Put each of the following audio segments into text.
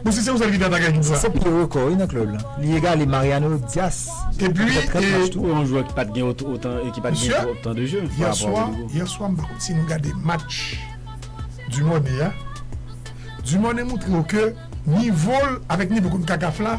Bon si se yon sèl gita ta gen jou sa. Se pye rekò wi nan club lan. Li egale Mariano Dias ki te fè 30 match tou. Yon jwè ki pat gen otan e ki pat gen twòp tan de jeu pa rapò a Rodrygo. Yè swa m pa konn si nou gade match Dumornay a. Dumornay moutre yo ke nivo l avèk nivo konnkakaf la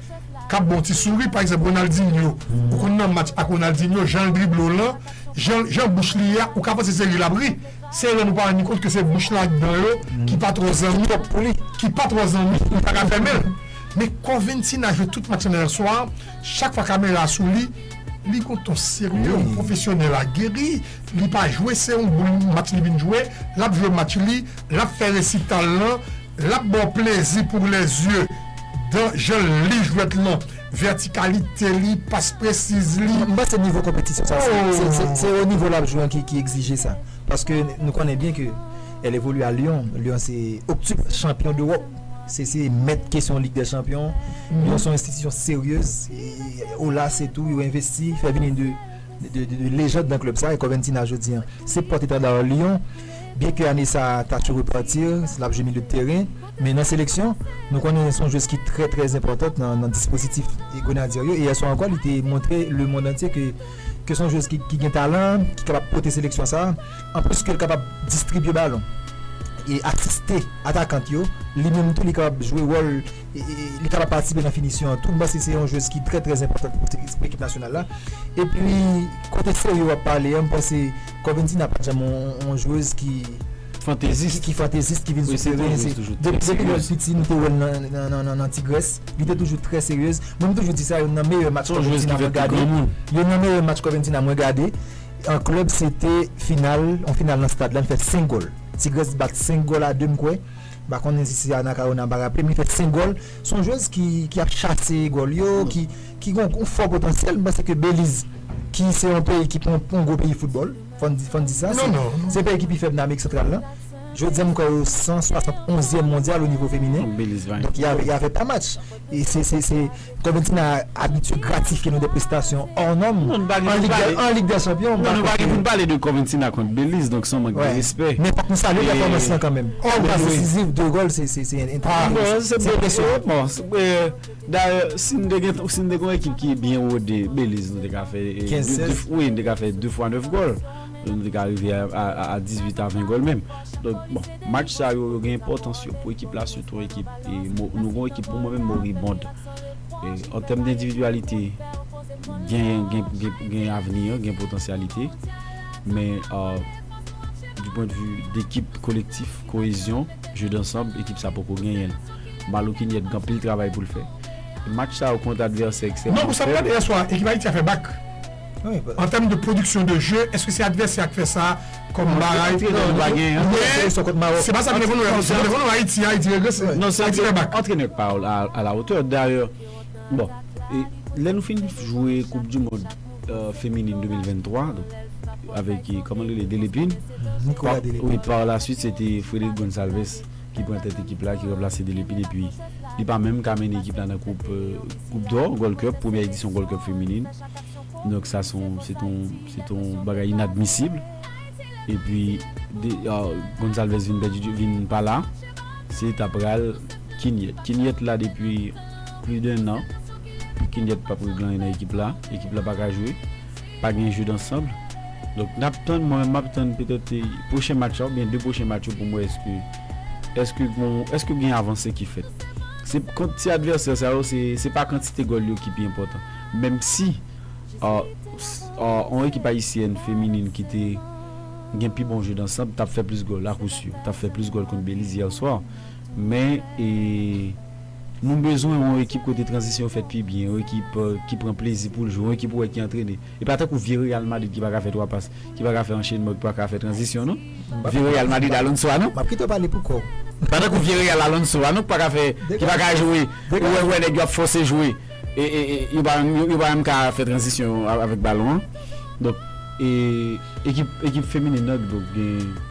kap baw ti souri pa egzanp Ronaldinho ou konn nan match ak Ronaldinho janl drible w lan jan jan bouch li ye a ou ka panse se ri lap ri se lèw nou pa ranni kont ke se bouch lan ak dan yo ki pa twò zanmi pou li ki pa twò zanmi pou li paka fèmenl men kò Ventina jwe tout match lan yè swa chak fwa kamera a sou li li gon ton serye yon pwofesyonèl ageri li pa jwe se yon boul match li vin jwe lap jwe match li lap fè resital lan. Lap baw plezi pour les yeux dan janl li jwèt lan verticalité li passe précise li. M panse nivo konpetisyon sa se o nivo lap jwe an ki egzije sa paske nou konnen byen ke el evolue a Lyon, Lyon se octuple chanpyon dEurop se se mèt kesyon lig dè chanpyon Lyon son enstitisyon seryez olas etou yo envesti fè vini de lejand nan klub sa e Corventina jodi an se pòt etanda Lyon. Byen ke ane sa a ta sou repartir, l ap jwe milye teren, men nan seleksyon, nou konnen s on jwez ki trè trè enpòtant nan dispozitif Grenadye yo e yè swa ankò li te montre lemond antye ke s on jwez ki gen talan, ki kapab pote seleksyon sa a. Anplis ke l kapab distribye balon e asiste atakant yo, li menm tou li kapab jwe wòl, li kapab patisipe nan finisyon an tou. M panse se yon jwez ki trè trè enpòtant pou ekip nasyonal la. Epi kote serye w ap pale an, m panse. Corventina pat janm yon jwez ki fantezis ki fantezis ki vin soufle wi se depi lèl piti nou te wèl nan tigrès li te toujou trè seryez mwen m toujou di sa youn nan meyè match corventina mwen gade youn nan meyè match corventina mwen gade an klèb se te final yon final nan stad la li fè 5 gòl tigrès bat 5 gòl a 2 m kwè m pa konnen si se anacaona m pa raple'm li fè 5 gòl son jwez ki ap chase gòl yo ki. ki gen yon fò potansyèl, m panse ke Beliz ki se yon peyi ki pa yon gwo peyi foutbòl, fò n di, fò n di sa, se peyi ki pi fèb nan Amerik Santral la, jodi a m kwè yo 160 onzyèm mondyal o nivo feminen, donk y avè pa match, e se, se, se, Corventina abitye gratifye nou de prestasyon or nòm, an Lig dè Chanpyon, m pa kwè ke. Non, nou pa gen pou n pale de Corventina kont Beliz, donk se yon mank de respè. Men fòk nou salye pèfòmans lan kanmenm, 1 pas desizif, 2 gòl, se, se, se enteresan, se enpresyonant. Dayè si n te gen si n te gen yon ekip ki byen wode Beliz nou te ka fè wi nou te ka fè 2 fwa 9 gòl nou te ka rive a 18 a 20 gòl menm donk bon match sa yo yo gen enpòtans yo pou ekip la sitou ekip nou gen yon ekip pou mwen menm moribond an tèm de endividyalite gen avni gen potansyalite men di pwendvi dekip kolektif koyezyon je dansanm ekip sa poko genyen l. Malokinyèt gen anpil travay pou l fè. Match sa yo kont advèsè ekstrèmman fèb. Non, pou sa m gade yè swa, ekip Ayiti a fè bak. An tèm de pwodiksyon de je, èske se advèsè a k fè sa kòm bagay? Men, se pa sa ki devan nou la. Sa ki devan nou la, Ayiti, Ayiti regrese. Ayiti fè bak. Antrenè k pa a la otè. Dayè, bon, lè nou fin jwe koup di mond feminin 2023, avèk, kòman l rele, Delepin, Nikola Delepin, wi, pa la suit se te Frederick Gonçalves. ki pran tèt ekip la, ki ranplase Delepine epi li pa menm ka mennen ekip la nan koup koup dò Gold Cup, premyè edisyon Gold Cup feminin. Donk sa son se ton se ton bagay inadmisib. Epi de Gonçalves vin pèdi vin pa la, se ta pral Quignette. Quignette la depi pli de 1 an, Quignette pap regle anyen nan ekip la, ekip la pa ka jwe. Pa gen jeu d'ensemble. Donk n ap tann, mwen menm m ap tann petèt pwochen match la oubyen 2 pwochen match yo pou m wè èske èske gon èske gen avanse ki fèt. Se kont ti advèsè sa yo se se pa kantite gòl yo ki pi enpòtan. Menmsi a a yon ekip ayisyèn feminin ki te gen pi bon jeu d'ensemble t ap fè plis gòl akousur. T ap fè plis gòl kont Beliz yè swa men e. Nou bezwen yon ekip kote tranzisyon yo fèt pi byen, yon ekip ki pran plezi pou l jwe, yon ekip ou wè ki antrene. E pa tankou vye Real Madrid ki pa ka fè twa pas, ki pa ka fè anchenman, ki pa ka fè tranzisyon non. Vye Real Madrid Alonso a non. Map kite w pale pou kò w. Pa tankou vye Real Alonso a non ki pa ka fè, ki pa ka jwe, ou wè nèg yo ap fòse jwe e yo pa yo pa menm ka fè tranzisyon avèk balon an. Donk e ekip ekip feminin nan donk gen.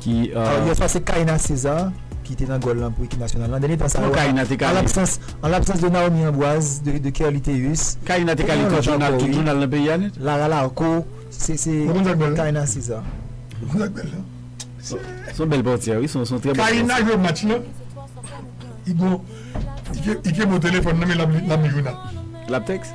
ki Alò yè swa se Kaïna César ki te nan gòl lan pou ekip nasyonal lan. Dènye tan sa yo an labsans de Naomi Ambroise, de Kerly Théus. Kaïna te kale tout jounal, tout jounal nan peyi a nèt. Lara Larco, se Kaïna César. Mwen konn sak bèl lan. Son bèl pòtyè wi, son trè bèl pòtyè. Kaïna jwe match lan, Igo, Ike bo telefòn nan men lap li jounal. Lap tèks?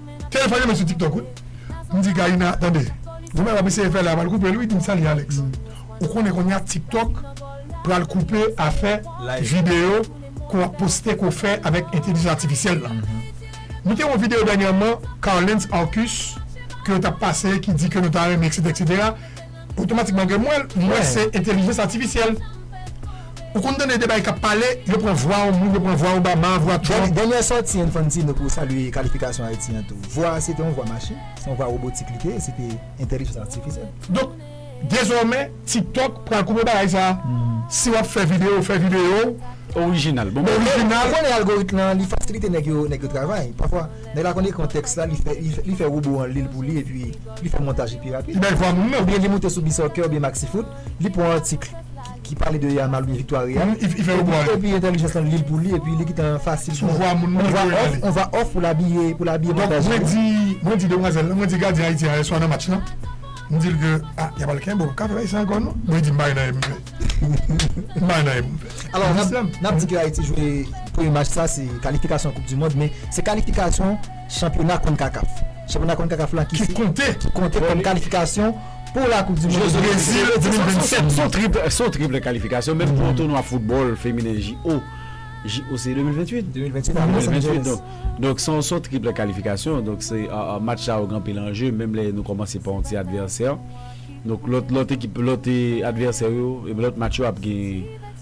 Kel fè renmen sou tiktok wi. M di Karina tande gou bagay wap eseye fè la pral koupel wi dim sa li Alex ou konnen konnya tiktok pral koupe afè video ke wap poste ke w fè avèk entelijans atifisyèl la nou te wè yon video dènyèman Carlens Arcus ke yo tap pase ki di ke nou ta renmen eksetera eksetera. Otomatikman gen mwen l, mwen se entelijans atifisyèl. Ou konn tande de bagay k ap pale, yo pran vwa yon moun, yo pran vwa Obama, vwa Trump. Dènyè sòti Infantino pou salye kalifikasyon Ayiti an tou, vwa a se te yon vwa machin, se yon vwa robotik li te ye, se te entelijans atifisyèl. Donk, dezòmè, TikTok pral koupe bagay sa a. Si w ap fè videyo, fè videyo w. Orijinal. Bon bagay. Orijinal. Ou konnen algoritm lan, li fasilite nèg yo travay. Pafwa, nèg la konn ekri yon tèks la, li fè, li fè wobo an li l pou li epi. Li fè montaj li pi rapid. Li bèl vwa moun nan. Oubyen li moute sou Bsoccer oubyen Maxifoot, li pwan atik ki pale de Yamal oubyen viktwa Real, epi entèlijans lan li l pou li epi li kitan fasil pou on va off pou l abiye pou l abiye montaj li. Bon, mwen di demwazèl lan, mwen di gadyen Ayiti a yèswa nan match lan, m di l ke, a, y ap al kenbe w, w ka fè sa ankò non. Bon, li di m pa gen anyen pou m fè. M pa gen anyen pou m fè. Alò, n ap di ke Ayiti jwe premye match sa se kalifikasyon koup dimond men se kalifikasyon. chanpyona Concacaf. Chanpyona Concacaf la ki konte kòm kalifikasyon pou la koup di mond 2027. Se yon triple kalifikasyon menm pou yon tounwa foutbòl feminen JO. JO se 2028? 2028 donk. Donk se yon triple kalifikasyon. Donk se match sa yo gen anpil anje menm lè nou kòmanse pa yon ti advèsè. Donk lòt ekip lòt advèsè yo lòt match yo ap gen.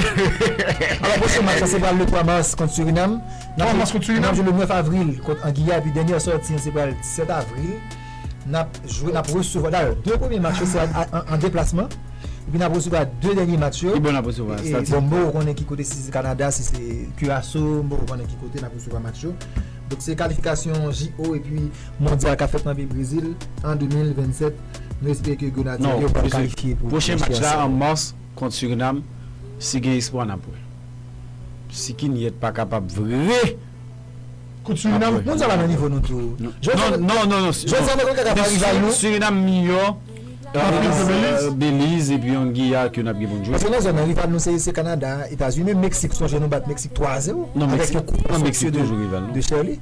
Alò pwochen match la se pral le 3 mas kont Surinam, n ap jwe le 9 avril kont Angiya epi dènyè sòti an se pral 17 avril n ap jwe n ap resevwa dayè 2 premye match yo se an deplasman epi n ap resevwa 2 dènye match yo bon m poko konnen ki kote si se Kanada si se Kiraso m poko konnen ki kote n ap resevwa match yo donk se kalifikasyon JO epi mondyal k ap fèt nan peyi Brezil an 2027 nou espere ke Grenadye yo pral kalifye pou pwochen match la. Kont Surinam, si gen espwa n ap wè. Si Kinyèt pa kapab vre, Kont Surinam, moun sa pa nan nivo nou tou. Surinam miyò ke Beliz epi yon Giyà ke n ap gen pou n jwe. Paske nan zòn nan, rival nou se Kanada, Etazini, menm Meksik, sonje nou bat Meksik 3 a 0 avèk yon kout de Sherly.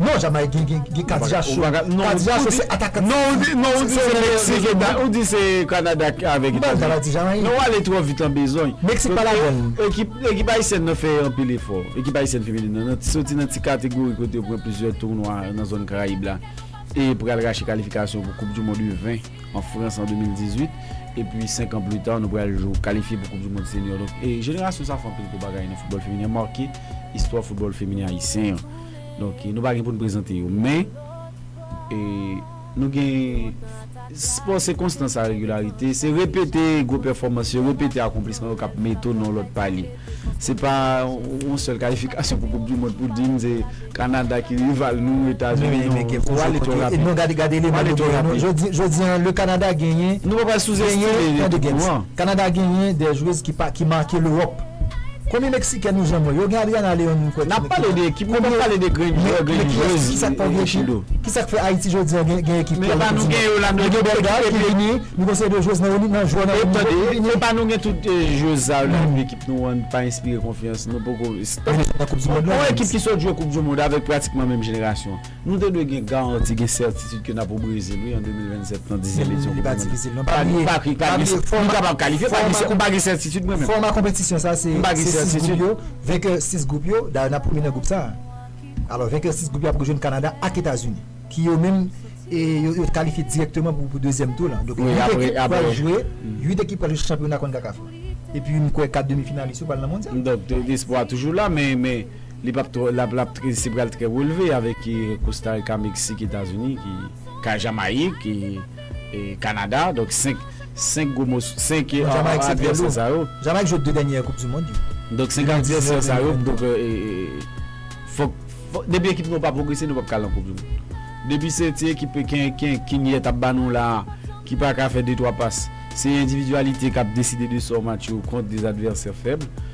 Non Jamaik gen gen kadiacho kadiacho se atakan non ou di non ou di se meksik eta ou di se kanada avèk etazini mpa pale ti jamaik non wale trò vit lan bezwen meksik pa ladann ekip ekip ayisyèn nan fè anpil efò ekip ayisyèn feminin nan nan soti nan ti kategori kote yo pran plizyè tounwa nan zòn karayib la e pral rache kalifikasyon pou koup dimond u 20 an frans an 2018 epi 5 an pli ta nou pral jou kalifye pou koup dimond seniò donk e jenerasyon sa fè anpil gwo bagay nan foutbòl feminin an make istwa foutbòl feminin ayisyen an. Donk nou pa gen pou n prezante yo men nou gen Spò se konstans a regilarite se repete gwo pèfòmans yo repete akonplisman yo k ap mete w nan yon lòt paliy se pa yon sèl kalifikasyon pou koup di mond pou di n se Kanada ki rival nou Etazini non men gen pou ale twò rapid non gade gade eleman nou genyen non jodi an le Kanada genyen nou pa pral souzestime ekip nou an Kanada genyen de jwez ki make lewòp. Konbyen meksikèn nou janm wè yo gen Adriana Leon nou kwè ki Nap pale de ekip nou pap pale de grenn jwè grenn jwez e chilo. Kisak fè Ayiti jodi an gen ekip ki al nan koup dimond nou gen Belgar ki vini nou gen seri de jwez nan yon nivo ki vini. Epa nou gen tout jwez sa yo nan ekip nou an pa enspire konfyans nou poko on ekip ki sot jwe koup dimond avèk pratikman menm jenerasyon. Nou te dwe gen garanti, gen sètitid ke n ap o Brezil wi an 2027 nan dezyèm edisyon koup du mond lan. Pa bliye, pa bliye, pa bliye, nou kapab kalifye, pa bliye, m pa gen sètitid mwen menm. Fòma konpetisyon sa se 6 gwoup yo, venkè 6 gwoup yo, dayè n ap premye nan gwoup sa a. Alò venkè 6 gwoup yo ap rejwenn Kanada ak Etazini ki yo menm yo te kalifye dirèkteman pou dezyèm tou lan. Donk 8 ekip pral jwe, 8 ekip pral jwe chanpyona konkakaf lan. Epi m kwè 4 demi finalis yo pral nan mondyal. Donk espwa toujou la men. Li pap twò lap lap trè se pral trè relve avèk Costa Rica Mexique Etazini ki ka Jamayik e Kanada donk 5 5 gwo mòs 5 Non Jamayik se trè lou Jamayik jwe 2 dènyè koup di mond yo Donk 5 advèsè sa yo donk fòk depi ekip nou pa pwogrese nou pap ka al nan koup di mond depi se ti ekip kenken kinyèt ap ba nou la ki paka fè de twa pas se endividyalite kap deside de sò match yo kont de advèsè fèb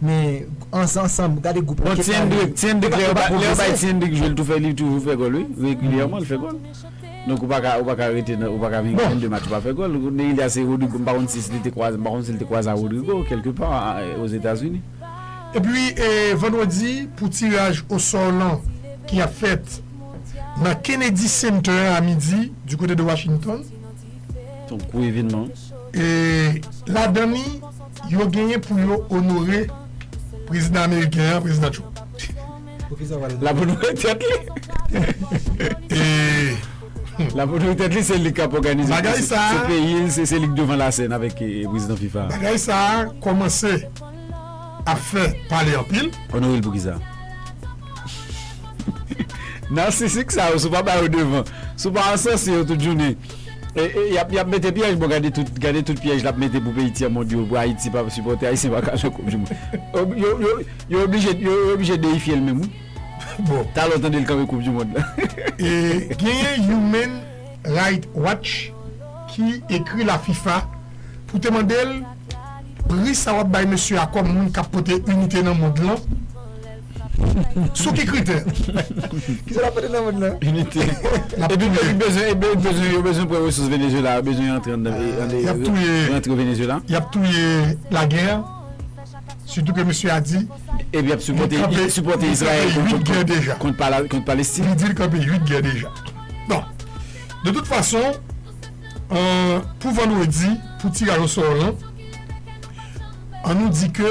Men ansanm gade group la keta li yo pa pwogrese. Epi vandredi pou tiraj osò lan ki ap fèt nan Kennedy Center a midi di kote de Washington. Son gwo evenman wi. E ladan li yo genyen pou yo onore prezidan ameriken an, prezidan Trump. Poukisa yo pa Lap onore tèt li? Lap onore tèt li se li kap òganize se peyi l se li k devan la sèn avèk prezidan fifa. Bagay sa kòmanse ap fè pale anpil. Onore l poukisa? Narcissique sa yo si w pa ba yo devan, si w pa ansanse yo tout jounen yap yap mete pyèj bon gade tout gade tout pyèj lap mete pou peyi tyèmond yo pou Ayiti pa sipòte Ayisyen pa ka nan koup di mond yo yo yo oblije yo oblije deyifye l menm wi bon talè w tande l kanpe koup di mond la genyen human right watch ki ekri la fifa pou te mande l pri sa wap bay mesye a kòm moun kap pote inite nan mond lan. Sou ki kritè? Kisa lap pote nan mond lan? Inite. Epi yo bezwen e bezwen yo bezwen pran resous Venezuela yo bezwen antre anndan e Yap touye rantre Venezuela. Yap touye la guerre sitou ke mesye a di Epi yap sipòte yap sipòte Israël kont kont kont deja. kont pala kont Palestine. Li di li kanpe 8 gè deja. Bon, de tout fason euh pou vandredi pou tiraj osò lan an nou di ke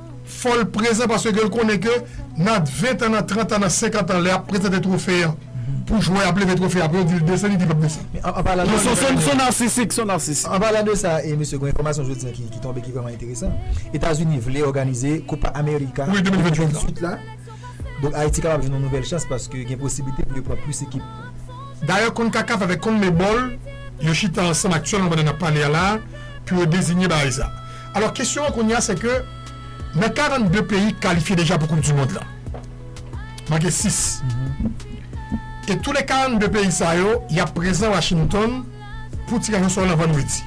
Fòl prezan paske gel konnen ke nan 20 tan nan 30 tan nan 50 tan lè yap prezante trofe an pou jwè ap leve trofe apre yo dil desann li di pap desann. Anpalan de sa e mesye gon enfòmasyon jodi an ki tonbe ki vrèman enteresan etazini vle òganize copa america 2028 la donk ayiti kapab jwenn yon nouvèl chans paske gen posiblite pou yo pran plis ekip. Dayè Concacaf avèk Conmebol yo chita ansanm aktyèlman pandan nap pale a la pou yo dezinye bagay sa. Alò kesyon an kounye a se ke nan 42 peyi ki kalifye deja pou koup di mond la manke 6 e tou le 42 peyi sa yo yap prezan Washington pou tiraj o sò lan vandredi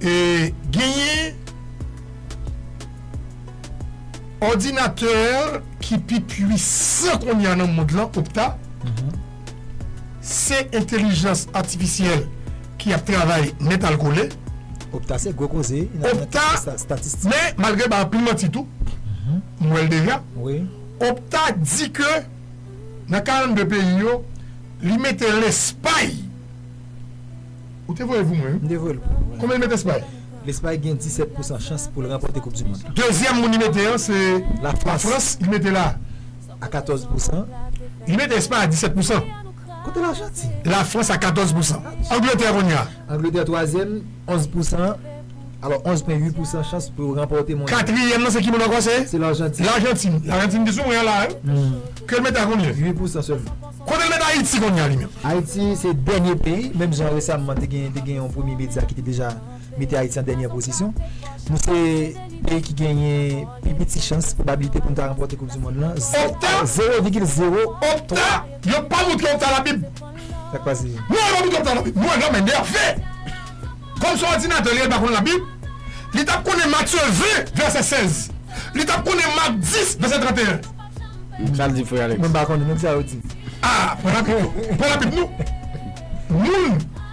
e genyen òdinatè ki pi pwisan kounye a nan mond lan Okta. Se entelijans atifisyèl ki ap travay nèt al kole. Opta se gwo koze nan kesyon statistik. Men malgre bay anpil manti tou, m wè l deja. Opta di ke nan 42 peyi yo, li mete Lespay. Ou te voye l pou mwen wi. M te voye l pou ou. Konbyen li mete Espay? Lespay gen 17 pousan chans pou l ranpòte koupdimond la. Dezyèm moun li mete an se Lafrans. Li mete la. a 14 pousan. Li mete Espay a 17 pousan. Kote la Janti? La Frans a 14 pousan. Angletè kounye a? Angletè twazyèm, 11 pousan. Alò 11 pwen 8 pousan chans pou yo ranpòte mondyal. Katriyèm nan se ki moun ankò se? Se Lajantin. Lajantin. Lajantin ki sou mwen an la wi. Ke l mete a konbyen? 8 pousan sèlman. Kote l mete Ayiti kounye a li menm? Ayiti se dènye peyi. Menm jan resamman te gen te gen yon premye medya ki te deja. mete Ayiti an dènyè pozisyon. Nou se peyi ki genyen pi piti chans, pwobabilite pou nou ta ranpòte koup dimonn lan, zewo vigil zewo twa. Yo pa moutre Okta Labib. Sa k pase? Non, yo pa moutre Okta Labib. Mwen lòm enève! Kòm se òdinatè li ye li pa konn Labib. Li tap konnen Matye 20 vèsè 16. Li tap konnen Mak 10 vèsè 31. Sa l di frè Alex? Mwen pa konnen non kisa yo di. A! Pran Labib nou. Moun!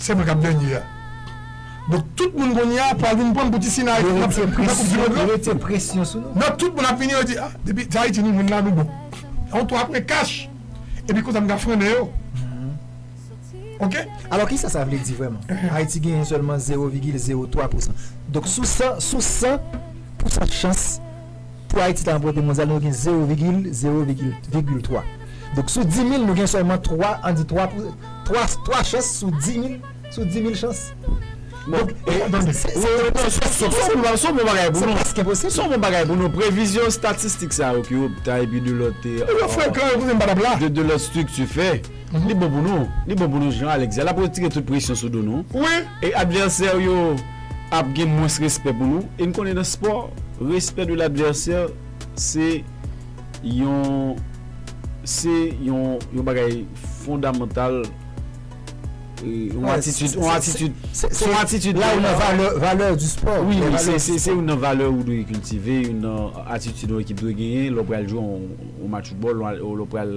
Se mwen kap dènye a. Donk tout moun kounye a pral vin pranm pou ti sina yo nan koup di mond lan. Yo mete presyon sou nou. Non tout moun ap vini yo di ah depi se Ayiti nou jwenn la nou bon. Yon 3 pwen kach epi konsa m ka frennen yo ok. Alò kisa sa vle di vrèman? Ayiti genyen sèlman zewo vigil zewo 3 pousan. Donk sou 100 sou 100 pousan chans. pou Ayiti ta ranpòte mondyal nou gen zewo vigil zewo vigil vigil twa. Donk sou dimil nou gen sèlman twa an di twa pou twa twa chans sou dimil sou dimil chans. Bon donk se se se bon bagay pou nou se yon bon bagay pou nou previzyon estatistik sa yo ke opta epi de lòt de de lòt estrikti fè. Li bon pou nou, li bon pou nou Jean Alex di a, l ap retire tout presyon sou do nou wi, e advèsè w yo ap gen mwens respè pou nou, e n konnen nan spò respect de l'adversaire se yon se yon yon bagay fondamantal yon atitid yon atitid se yon atitid la ou nan valè valè di spò wi se se youn nan valè ou dwe kiltive youn nan atitid yon ekip dwe genyen lè w pral jwe yon match foutbòl lè w pral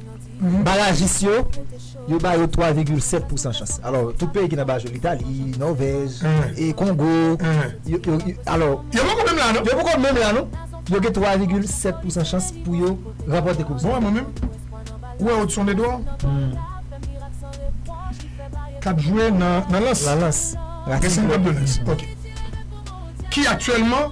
Barajis yo, yo ba yo 3 vigil 7 pousan chans. Alò, tout peyi ki nan baraj yo, Litali, Nòvèj, e Kongo, yo, yo, alò. Yo poko menm la non. Yo poko menm la non. Yo gen 3 vigil 7 pousan chans pou yo ranpòte koup sa. Bon wè mwen menm. Ou wè Odson Edouard? K ap jwe nan, nan Lens? Nan Lens. Gen 52 Lens. Ok. Ki aktyèlman.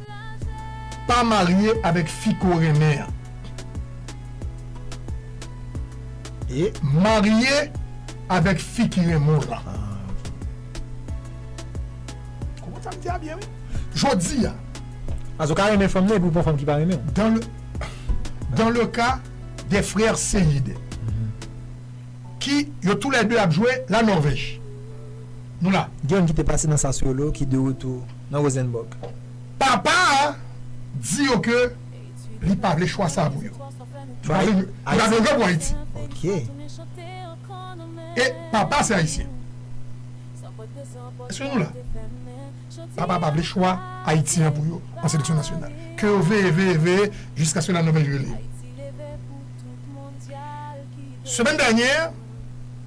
Pa marye avèk fi ke w renmen an. E. Marye avèk fi ki renmen w lan. Ou konprann sa m di a byen wi. Jodi a. Paske w ka renmen fanm nan epi w pran fanm ki pa renmen w. Dan le, dan le ka de frè Seid. Ki yo tou lè de ap jwe La Norvèj. Nou la. Gen youn ki te pase nan Sassuolo ki de retou. nan Rosenborg. Papa a di yo ke li pa vle chwa sa a pou yo. Li pa vle jwe pou Ayiti. E papa se Ayisyen. Eske nou la? Papa a pa vle chwa Ayiti an pou yo an seleksyon nasyonal. Ke yo veye, veye, veye jiskaske la Nòvèj rele yo. Semèn dènyè.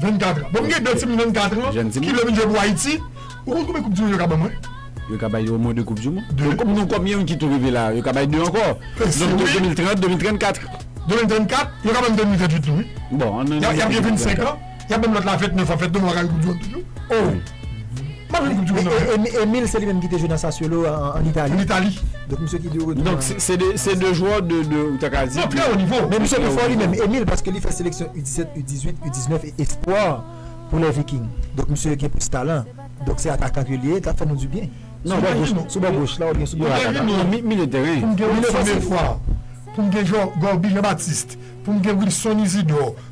24 ans. Bon m gen 2 timoun 24 ans Jèn timoun. ki vle vin jwe pou Ayiti. Ou konn konbyen koup du mond yo ka ban mwen? Yo ka bay omwen 2 koup du mond. Deux. Donk nou konbyen moun ki tou rive la? Yo ka bay 2 ankò. Mesi Donk wi. 2030, 2034. 2034, yo ka ban m 2038 tou wi. Bon, an nou Y ap gen 25 ans, y ap ban m lòt la 29 ans, fèt nou mwen pa ka jwe koup du mond toujou. Oh! Emile se li menm ki te jwe nan Sassuolo an Itali. Donk misye ki de retou. Donk se de jwè de ou ta ka di. Trè o nivo. Men misye pi fò li menm Emile paske li fè seleksyon U17, U18, U19 e Espoir pou lè Viking. Donk misye gen plis talan. Donk se atakan ke li ye. Li ta fè nou di byen. Sou bò goch la. Sou bò goch la ou byen sou bò ataka. Mwen gen Emile. Milieu tèren. Pou m gen Wilson Efwa. Pou m gen Gorby Jean Baptiste. Pou m gen Wilson Isidore.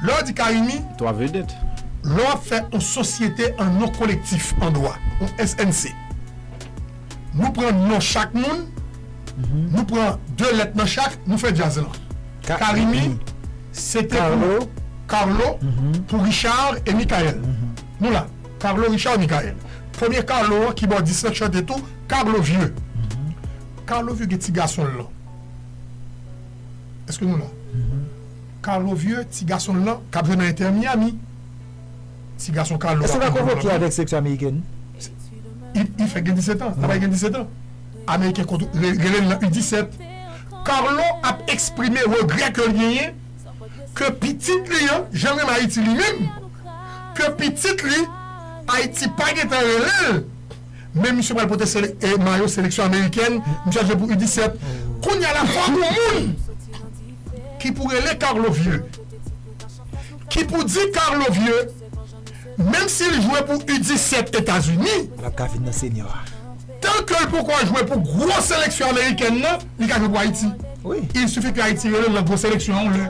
Lè w di Carimi. 3 vedèt. Lè w ap fè yon sosyete an non kolektif an dwa, yon SNC, nou pran non chak moun, nou pran 2 lèt nan chak, nou fè djaz lan. Carimi, se te pou Carlo, pou Richard e Mickaël. Nou la, Carlo, Richard, Mickaël. Premye Carlo an, kibòdis lan, k chante tou, Carlo Vieux. Carlo Vieux gen ti gason l lan. Eske nou la? Carlo vieux ti gason l lan k ap jwe nan Inter Miami. Ti gason Carlo a. Eske l pa konvoke avèk seleksyon amerikèn? Li fèk gen 17 an. L ap gen 17 an. Ameriken rele l nan U17. Carlo ap eksprime regrè ke l genyen ke pitit li an janm renmen Ayiti li menm. Ke pitit li Ayiti pa gen tan rele l. Men misye pral pote mayo seleksyon amerikèn, misye ap jwe pou U17. Kounya la fò pou moun ki pou rele Carlo vye, ki pou di Carlo vye, menm si l jwe pou U17 Etazini, tan ke l poko jwe pou gwo seleksyon amerikèn nan, li ka jwe pou Ayiti. Il suffit ke Ayiti rele l nan gwo seleksyon an yon lè,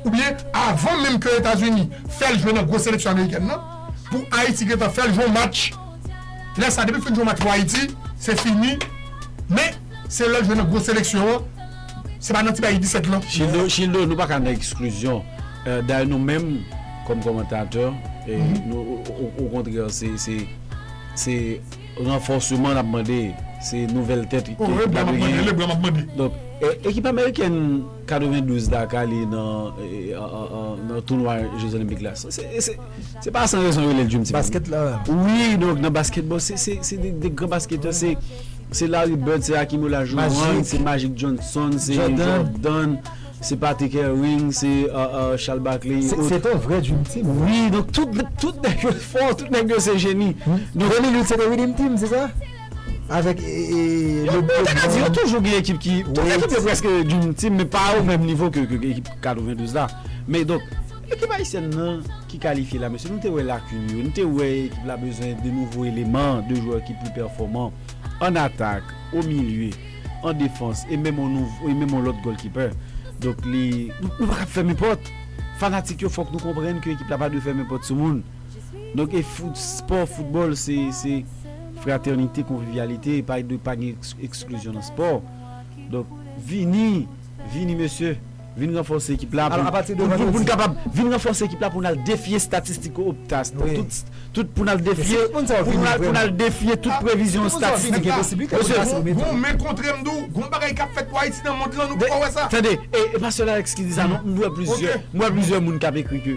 oubyen avan menm ke Etazini fè l jwe nan gwo seleksyon amerikèn nan, pou Ayiti gentan fè l jwe yon match. Lè sa depi fin jwe match pou Ayiti se fini men se lèl jwe nan gwo seleksyon an se pa nan ti bagay U17 lan. Childo Childo nou paka nan eksklizyon dayè nou menm kòm kòmantatè nou okontrè se se se ranfòseman nap mande se nouvèl tèt ekip la dwe genyen donk ekip amerikèn 92 Dakar li nan tounwa je zolenpik la se pa san rezon yo rele l djim ti moun basket la wi donk nan basket bon se de gran basketè se Larry Bird se Hakim Olajuwon se Magic Johnson se Jordan se Patrick Ewing se Charles Barkley se te yon vrè djim ti moun wi donk tout nèg yo fò tout nèg yo se jeni Denis Lewis se te redeem team se sa? avèk le bon Yo te di yo toujou gen ekip ki Tout ekip yo prèske Dream Team men pa o menm nivo ke ekip 92 la men donk ekip ayisyèn nan ki kalifye la mesye nou te wè lakin yo nou te wè ekip la bezwen de nouvo eleman de jwè ki pli pèfòman an atak o milye an defans e menm on nouvo e menm on lòt gòlkipè donk li nou pa ka ap fèmen pòt fanatik yo fòk nou konprann ke ekip la pa dwe fèmen pòt sou moun. Donk e fout spò foutbòl se se fratènite konvivyalite e pa e dwe pa gen eksklizyon nan spò donk vini vini mesye vin ranfòse ekip la pou pou pou n kapab vin ranfòse ekip la pou n al defye estatistik opta tout tout pou n al defye pou n al pou n al defye tout previzyon estatistik mesye bon men kontre m di w gon bagay k ap fèt pou ayiti nan mond lan nou poko wè sa tande e e pa sèl alex ki di sa non m wè plizyè m wè plizyè moun k ap ekri ke.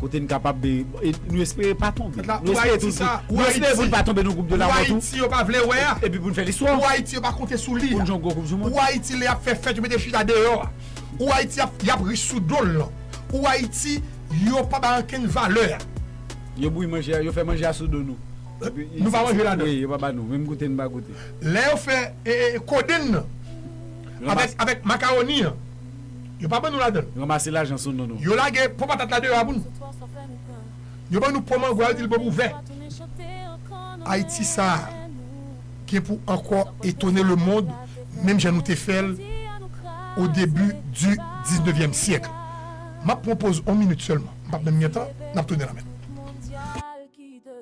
Kote n kapab de Nou espere pa tonbe Nou espere tou Nou espere pou n pa tonbe nan gwoup de lanmò tou Epi pou n fè listwa Pou Ayiti yo pa konte sou li a Pou Ayiti lè y ap fè fèt yo mete chita deyò a Pou Ayiti y ap ri sou do l lan Pou Ayiti yo pa ba l ankenn valè a Yo bouyi manje a Yo fè manje a sou do nou Nou pa manje ladan l Wi yo pa ba nou Menm goute n pa goute Lè yo fè kodenn nan Avèk makawoni an Yo pa ban nou ladan l. Ranmase lajan sou nou nou. Yo lage po patat la deyò a pou nou. Yo ban nou po mango a yo di l bon pou vè. Ayiti sa a gen pou ankò etone lemond menm jan nou te fè l o debi di diznevyèm syèk. M ap pran poz on minit sèlman, m p ap menm gen tan, n ap tounen la menm.